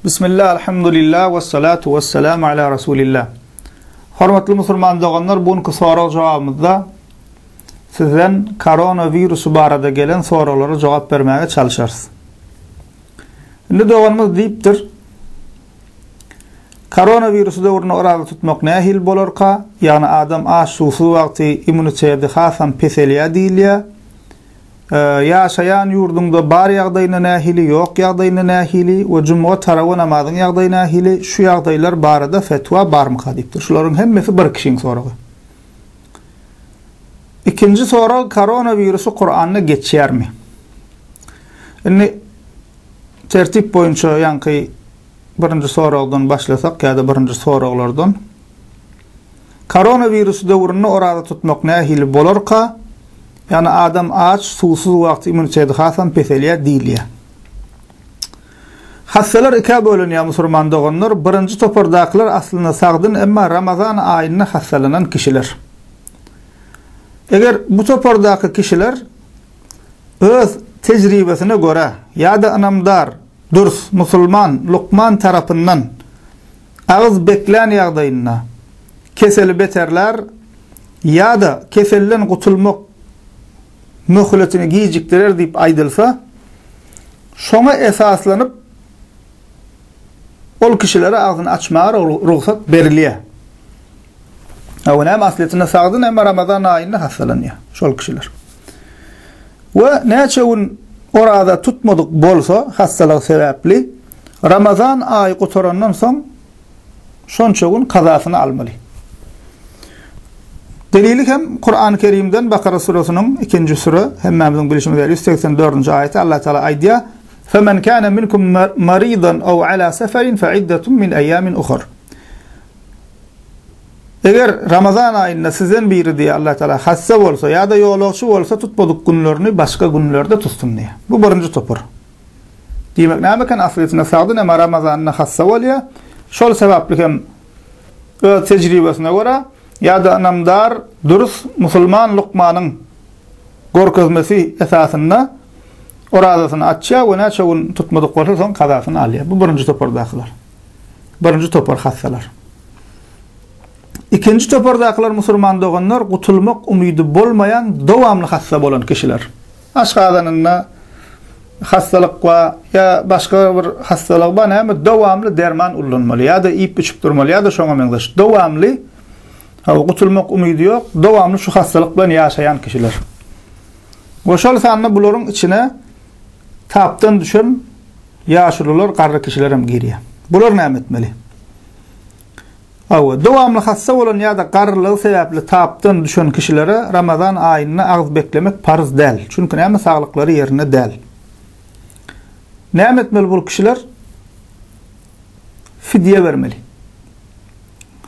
Bismillah, alhamdulillah, ve salatu ve selamu ala Rasulillah. Hormatly musulman doganlar, bu günki sorag jogabymyzda sizden korona virusu barada gelen soraglara jogap bermäge çalyşarys. Indi doganymyz diýipdir, Korona virusu döwründe oraza tutmak nähili bolarka? Ýagny adam aç, suwsuz wagty immuniteti hasam peselýär diýilýär. Ýaşaýan ýurduňda bar ýagdaýyna nähili, ýok ýagdaýyna nähili we jumga tarawa namazyň ýagdaýy nähili, şu ýagdaýlar barada fetwa barmyka diýipdir. Şularyň hemmesi bir kişiň soragy. Ikinji sorag koronawirusy Kuranda geçýärmi? Indi tertip boýunça ýaňky birinji soragdan başlasak ýa-da birinji soraglardan. Koronawirus döwründe oraza tutmak nähili bolarka? Ýagny adam aç, suwsuz wagty immuniteti hasam peselýär diýilýär. Hassalar ikä bölünýär musurman doganlar, birinji topardakylar aslynda sagdyn emma Ramazan aýynda hassalanan kişiler. Eger bu topardaky kişiler öz tejribesine görä ýa-da ynamdar, dürs, musulman, lukman tarapyndan Agyz beklän ýagdaýynda keseli beterlär ýa-da keselden gutulmak möhletini gijikdirer diýip aýdylsa, şoňa esaslanyp, ol kişilere agzyny açmaga rugsat berilýär. Hawa, näme aslyýetinde sagdyn, emma Ramazan aýynda hassalanýar şol kişiler. We näçe gün oraza tutmadyk bolsa, hassalygy sebäpli, Ramazan aýy gutarandan soň şonça gün kazasyny almaly. Delili hem Kur'an-ı Kerimden Bakara suresiniň 2-nji sure, hemmämiziň bilişimiz ýaly 184-nji aýaty Allah Taala aýdýar, Femen kâne minkum maridan ew alâ seferin fe iddetun min eyyâmin uhar. Eger Ramazan aýynda sizden biri diýe Allah Taala hassa bolsa ýa-da ýolagçy bolsa tutmadyk günlerini başga günlerde tutsun diýe. Bu birinji topar. Diýmek näme eken aslysynda Sagdy näme Ramazanda hassa bolýa, şol sebapli hem öz tejribesine görä ýa-da ynamdar dürs musulman lukmanyň gorkezmesi esasynda orazasyny açýa we näçe gün tutmadyk bolsa soň kazasyny alýa. Bu birinji topardakylar. Birinji topar hassalar. Ikinji topardakylar musulman doganlar gutulmak umydy bolmaýan dowamly hassa bolan kişiler. Aşgazanynda hassalyk bar ýa başga bir hassalygy bar näme dowamly derman ullanmaly ýa-da iýip içip durmaly ýa-da şoňa meňzeş dowamly hawa gutulmak umydy ýok dowamly şu hassalyk bilen ýaşaýan kişiler we şol sanda bularyň içine tapdan düşen ýaşulylar garry kişiler hem girýär bular näme etmeli Hawa, dowamly hassa bolan ýa-da garrylygy sebäpli tapdan düşen kişilere Ramazan aýynda agyz beklemek parz däl, çünki näme saglyklary ýerinde däl. Näme etmeli bul kişiler? Fidýe bermeli.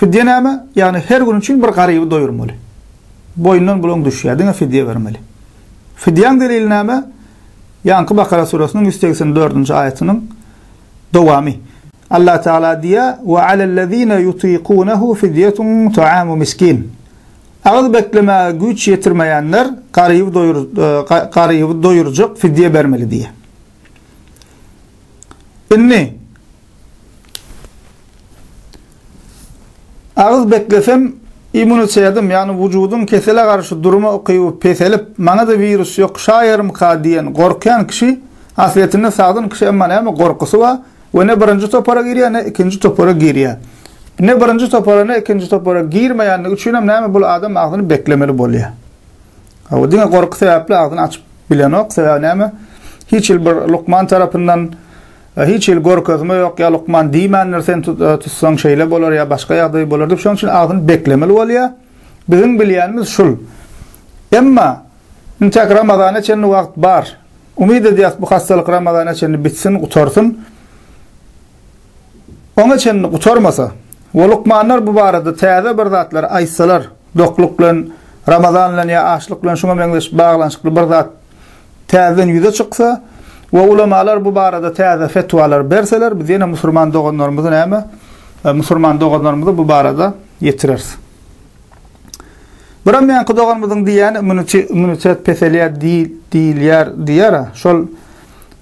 Fidýe näme? Ýagny her gün üçin bir garyby doýurmaly. Boýundan bulaň düşýär, diňe fidýe bermeli. Fidýäň delili näme? Ýaňky Bakara surasynyň ýüz segsen dördünji aýatynyň Dowamy. Allah Tagala diýýär, Ve alellezine yutikunehu fidyetun taamu miskin. Agyz beklemäge güýç ýetirmeýänler garyby doýurjak fidýe bermeli diýýär. Indi Agyz beklesem, immunitedim, ýagny wujudyň kesele garşy durma ukyby peselip, maňa-da wirus ýokuşaýarmyka diýen gorkýan kişi, aslyýetinde sagdyn kişi emma näme gorkusy bar we ne birinji topara girýär, ne ikinji topara girýär. Ne birinji topara, ne ikinji topara girmeýändigi üçinem näme bul adam agzyny beklemeli bolýar. Hawa, diňe gorky sebäpli agzyny açyp bilenok, sebäbi näme, hiç hili bir lukman tarapyndan, Ýa hiç hili görkezme ýok, ýa lukman diýmändir, sen tutsaň şeýle bolar, ýa başga ýagdaý bolar diýip, şonuň üçin agzyny beklemeli bolýar. Biziň bilýänimiz şul. Emma intäk Ramazana çenli wagt bar. Umyt edýäs, bu hassalyk Ramazana çenli bitsin, gutarsyn. Oňa çenli gutarmasa we lukmanlar bu barada täze bir zatlar aýtsalar, dokluk bilen, Ramazan bilen ýa açlyk bilen şuňa meňzeş baglanyşykly bir zat täzeden ýüze çyksa we ulamalar bu barada täze fetwalar berseler, biz ýene musurman doganlarymyzy näme, musurman doganlarymyzy bu barada ýetireris. Biram ýanky doganymyzyň diýýäni immunitet peselýär diýilýär diýýär-a, şol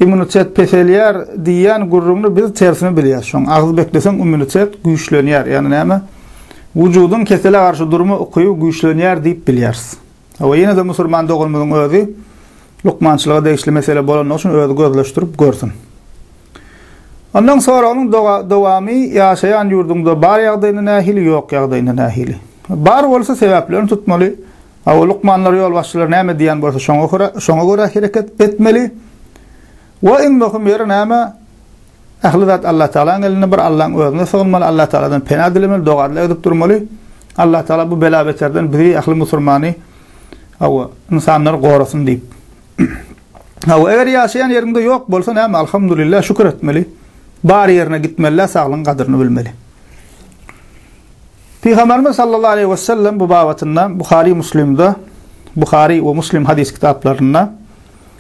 immunitet peselýär diýýän gürrüňini biz tersini bilýäs. Şoň agyz bekleseň immunitet güýçlenýär, ýagny näme, wujudyň kesele garşy durma ukyby güýçlenýär diýip bilýäris. Hawa, ýene-de musulman doganymyzyň özi lukmançylyga degişli mesele bolanlygy üçin özi gözleşdirip görsün. Ondan soragynyň dowamy ýaşaýan ýurduňda bar ýagdaýyna nähili, ýok ýagdaýyna nähili? Bar bolsa sebäplerini tutmaly. Hawa, lukmanlar, ýolbaşçylar näme diýýän bolsa şoňa görä hereket etmeli. We iň möhüm ýeri näme? Ähli zat Allatagalaň elinde, bir Allaň özüne sygynmaly, Allatagaladan pena dilemeli, doga-dile edip durmaly. Allatagala bu bela-beterden bizi, ähli musurmany, hawa, ynsanlary gorasyn diýip. Hawa, eger ýaşaýan ýeriňde ýok bolsa näme, alhamdulillah, şükür etmeli. Bar ýerine gitmeli-de, saglygyň gadyryny bilmeli. Pygamberimiz sallallahu aleýhi we sellem bu babatynda Buhary Muslimde, Buhary we Muslim hadys kitaplarynda,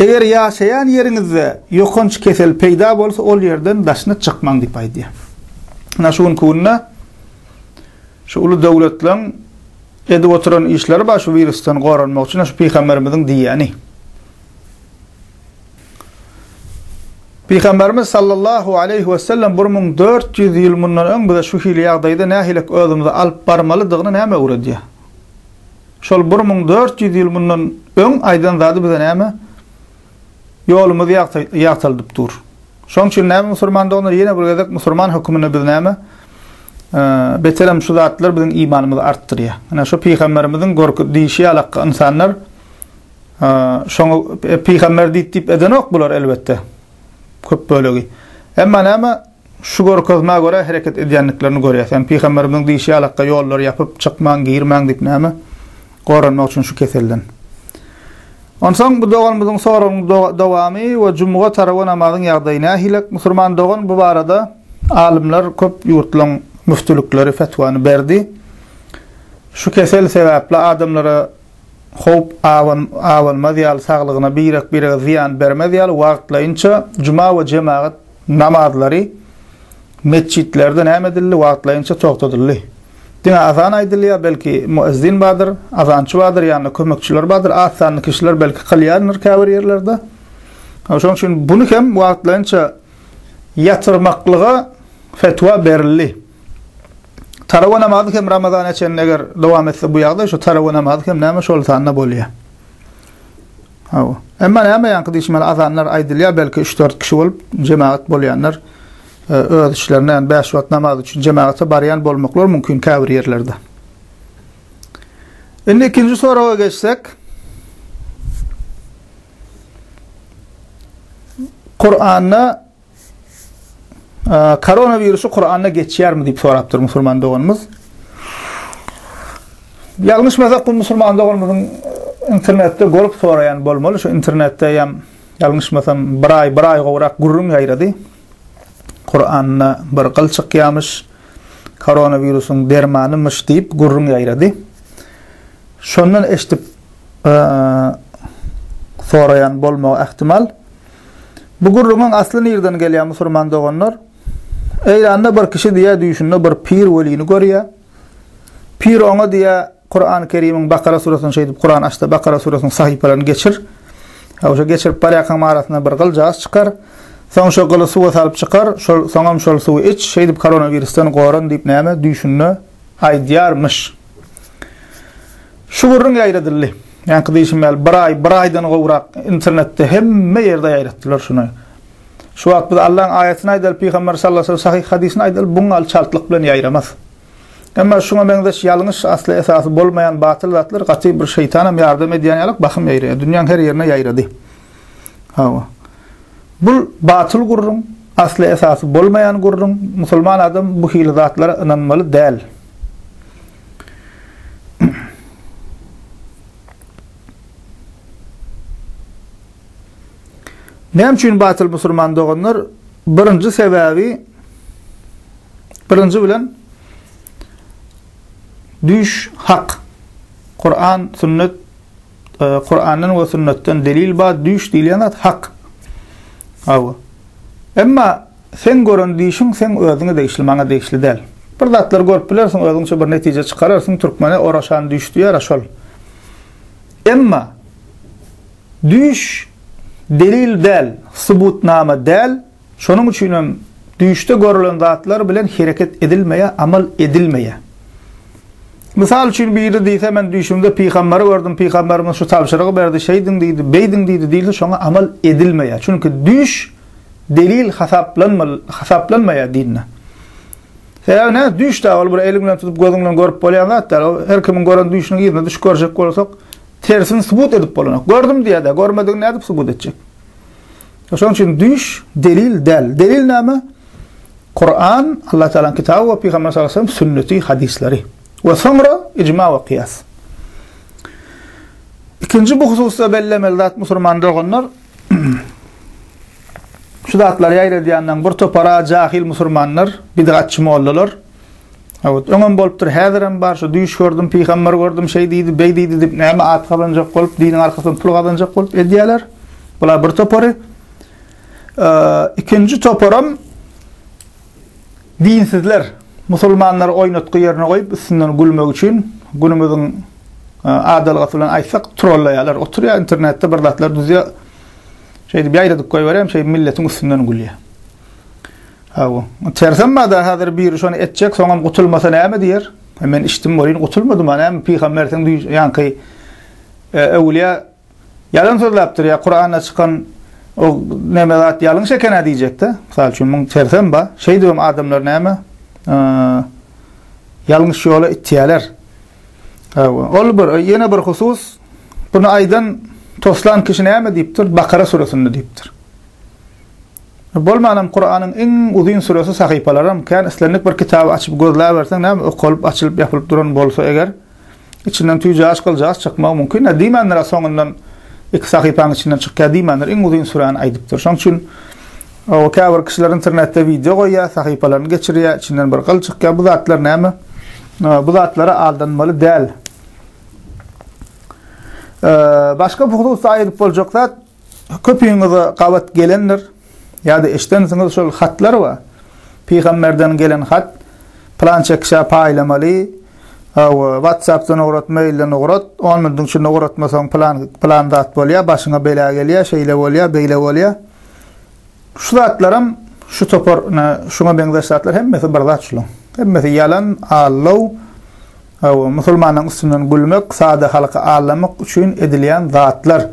Eger ýaşaýan ýeriňizde ýokanç kesel peýda bolsa, ol ýerden daşyna çykmaň diýip aýdýar. Ynha şu günki günde şu uly döwletleriň edip oturan işleri bar şu wirusdan goranmak üçin, şu pygamberimiziň diýýäni. Pygamberimiz sallallahu aleýhi wesellem bir müň dört ýüz ýyl mundan öň bize şu hili ýagdaýda nähilek özümizi alyp barmalydygyny näme öwredýär? Şol bir müň dört ýüz ýyl mundan öň aýdan zady bize näme? Ýolumyzy ýagtaldyp dur. Şoň üçin näme musurman doganlar ýene bir gezek musurman höküminde biz näme? Beterem şu zatlar biziň imanymyzy artdyrýar. Ine şu pygamberimiziň gorky diýişi ýalakka ynsanlar şoňa e, pygamber diýip diýip edenok bular elbetde. Köp bölegi. Emma näme Şu görkezmä görä hereket edýändiklerini görýäs. Ýani Pygamberimiziň diýşi ýalakga ýollary ýapyp, çykmaň, girmäň diýip näme? Goranmak üçin şu keselden. Onsoň bu doganymyzyň soragynyň dowamy we jumuga tarawa namazyň ýagdaýy nähilek? Musurman dogan bu barada alymlar köp ýurtlaryň müftülikleri fetwany berdi. Şu kesel sebäpli adamlara howp abanmaz ýaly saglygyna birek-birege zyýan bermez ýaly wagtlaýynça juma we jemagat Namazlary metjitlerde näme edildi? Wagtlaýynça togtadyldy. Diňe azan aýdylýar, belki muezzin bardyr, azançy bardyr, ýanynda kömekçiler bardyr, az sanly kişiler belki kylýandyr käbir ýerlerde. Şonuň üçin buny hem wagtlaýynça ýatyrmaklyga fetwa berildi. Tarawa namazy hem Ramazana çenli eger dowam etse bu ýagdaý, şu tarawa namazy hem näme şol sanda bolýar. Hawa. Emma näme ýaňky diýşmeli azanlar aýdylýar, belki üç-dört kişi bolup jemagat bolýanlar öz içlerinde ýagny bäş wagt namaz üçin jemagata barýan bolmaklary mümkin käbir ýerlerde. Indi ikinji soraga geçsek. Kuranda Koronawirusy Kuranda geçýärmi diýip sorapdyr musulman doganymyz. Ýalňyşmasak bu musulman doganymyzyň internetde görüp soraýan bolmaly. Şu internetde ýam ýalňyşmasam bir aý, bir aý gowrak gürrüň ýaýrady. Kuranda bir gyl çykýarmyş. Koronawirusyň dermanymyş diýip gürrüň ýaýrady. Şondan eşidip soraýan bolmagy ähtimal. Bu gürrüňiň asly nirden gelýär musurman doganlar? Eýranda bir kişi diýýär düýşünde bir pir welini görýär. Pir oňa diýýär Kurany Kerimiň Bakara surasyny şeýdip Kurany açda Bakara surasynyň sahypalaryny geçir. Ýa şo geçirip barýarkaň arasynda bir gyljajyk çykar. Soň şo gyly suwa salyp çykar, şol soňam şol suwy iç, şeýdip koronawirusdan goran diýip näme düýşünde aýdýarmyş. Şu gürrüň ýaýradyldy. Ýaňky diýşim ýaly, bir aý, bir aýdan gowrak internetde hemme ýerde ýaýratdylar şuny. Şu wagt biz Allaň aýatyny aýdaly, Pygamber sallallahu aleyhi ve sellem sahyh hadysyny aýdaly, buň alçaltlyk bilen ýaýramaz. Emma şuňa meňzeş ýalňyş, asly esasy bolmaýan batyl zatlar gaty bir şeýtanam ýardam edýän ýalyk bahym ýaýraýar. Dünýäň her ýerine ýaýrady. Hawa. Bu batyl gürrüň, asly esasy bolmaýan gürrüň, musulman adam bu hili zatlara ynanmaly däl. Näme üçin batyl musulman doganlar? Birinji sebäbi birinji bilen düş hak. Kur'an, sünnet e, Kur'andan we sünnetden delil bar düş diýilýän zat hak. Aw. Emma sen gören dişiň sen özüňe degişli, maňa degişli däl. Bir zatlar görüp bilersiň, özüňçe bir netije çykararsyň, türkmene oraşan düş diýer, şol. Emma düş delil däl, subutnama däl, Şonuň üçinem düýşde görülen zatlar bilen hereket edilmeýär, amal edilmeýär. Mysal üçin biri diýse men düýşümde pygamberi gördüm, pygamberimiz şu tabşyrygy berdi, şeýdiň diýdi, beýdiň diýdi diýilse şoňa amal edilmeýär. Çünki düýş delil hasaplanmaýar dinde. Sebäbi näme? Düýş dä ol bir eliň bilen tutup, gözüň bilen görüp bolýan zat däl. Ol her kimiň gören düýşüniň yzyna düşüp görjek bolsak, tersini subut edip bolanok. Gördüm diýer-de, görmedigini nädip subut etjek? Şonuň üçin düýş delil däl. Delil näme? Kuran, Allah Taalanyň kitaby we Pygamber sallallahu aleyhi ve sellem sünneti, hadislary. We soňra icma we kıyas. İkinci bu hususda bellemeli zat musulman doganlar şu zatlar ýaýradýandan bir topara jahil musulmanlar, bidgatçy mollalar Howt, öňem bolupdyr, häzirem bar, şu düýş gördüm, pygamber gördüm, şeý diýdi, beý diýdi diýip, näme at gazanjak bolup, diniň arkasyndan pul gazanjak bolup edýärler. Bular bir topary. Ikinji toparam dinsizler, musulmanlary oýnatgy ýerine goýup, üstünden gülmek üçin günümiziň e, adalgasy bilen aýtsak, trollaýarlar. Oturýar internetde bir zatlar düzýär. Şeýdip ýaýradyp goýberýär, şeý milletiň üstünden gülýär. Hawa, tersem bada hazir biri şony etjek, soňam gutulmasa näme diýer? He men içdim welin gutulmadym-a näme pygambersiň ýaňky öwülýä ýalan sözläpdir ýa Kuranda çykan o näme zat ýalňyş eken-ä diýjek-de. Mysal üçin muň tersem ba, şeýdibem adamlar näme ýalňyş ýola itýäler. Hawa, ol bir ýene bir husus bunu aýdan toslan kişi näme diýipdir? Bakara suresinde diýipdir. Bolmanam Kuranyň iň uzyn süresi sahypalaram kän islendik bir kitaby açyp gözläberseň näme okalyp açylyp ýapylyp duran bolsa eger içinden tüýjagaz gyljagaz çykmagy mumkin a diýmändir a soňundan iki sahypanyň içinden çykýa diýmändir iň uzyn süräni aýdypdyr şoň üçin o käbir kişiler internetde wideo goýýa sahypalaryny geçirýä içinden bir gyl çykýa bu zatlar näme bu zatlara aldanmaly däl başga bu hususda aýdyp boljak zat Köpüňize gabat gelendir, ýa-da eşidensiňiz şol hatlar bar. Pygamberden gelen hat, pylança kişä paýlamaly, hawa, WhatsApp-dan ugrat, mail-den ugrat, on minutiň içinde ugratmasaň pylan, pylan zat bolýar, başyňa bela gelýär, şeýle bolýar, beýle bolýar. Şu zatlaram şu topar, ine, şuňa meňzeş zatlar hemmesi bir zat şulaň. Hemmesi ýalan, aldaw, Hawa, musulmanyň üstünden gülmek sada halky aldamak üçin edilýän zatlar.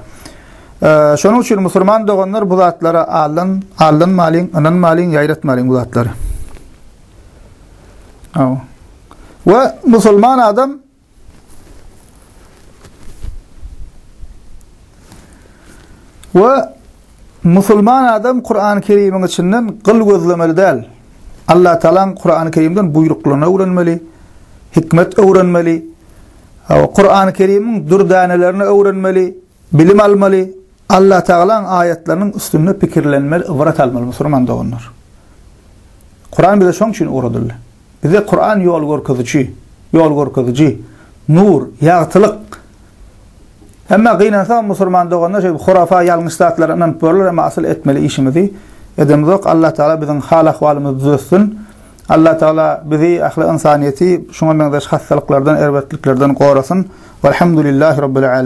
Şonuň üçin musulman doganlar bu zatlara aldan, aldanmalyň, ynanmalyň, ýaýratmalyň bu zatlary. Hawa. We musulman adam we Musulman adam Kurany Kerimiň içinden gyl gözlemeli däl. Allatagalaň Kurany Kerimden buýruklaryny öwrenmeli, hikmet öwrenmeli, hawa, Kurany Kerimiň dürdänelerini öwrenmeli, bilim almaly, Allatagalaň aýatlarynyň üstünde pikirlenmeli, ybrat almaly musulman doganlar. Kuran bize şoň üçin ugradyldy. Bize Kuran ýol görkeziji, ýol görkeziji, nur, ýagtylyk. Emma gynansagam musulman doganlar şeýdip hurafa, ýalňyş zatlara ynanyp görler, emma asyl etmeli işimizi edemizok. Allah Taala biziň hal ahwalymyzy düzetsin. Allah Taala bizi, ähli ynsanyýeti şuňa meňzeş hassalyklardan, erbetliklerden gorasyn. Walhamdulillahi Rabbil Alemin.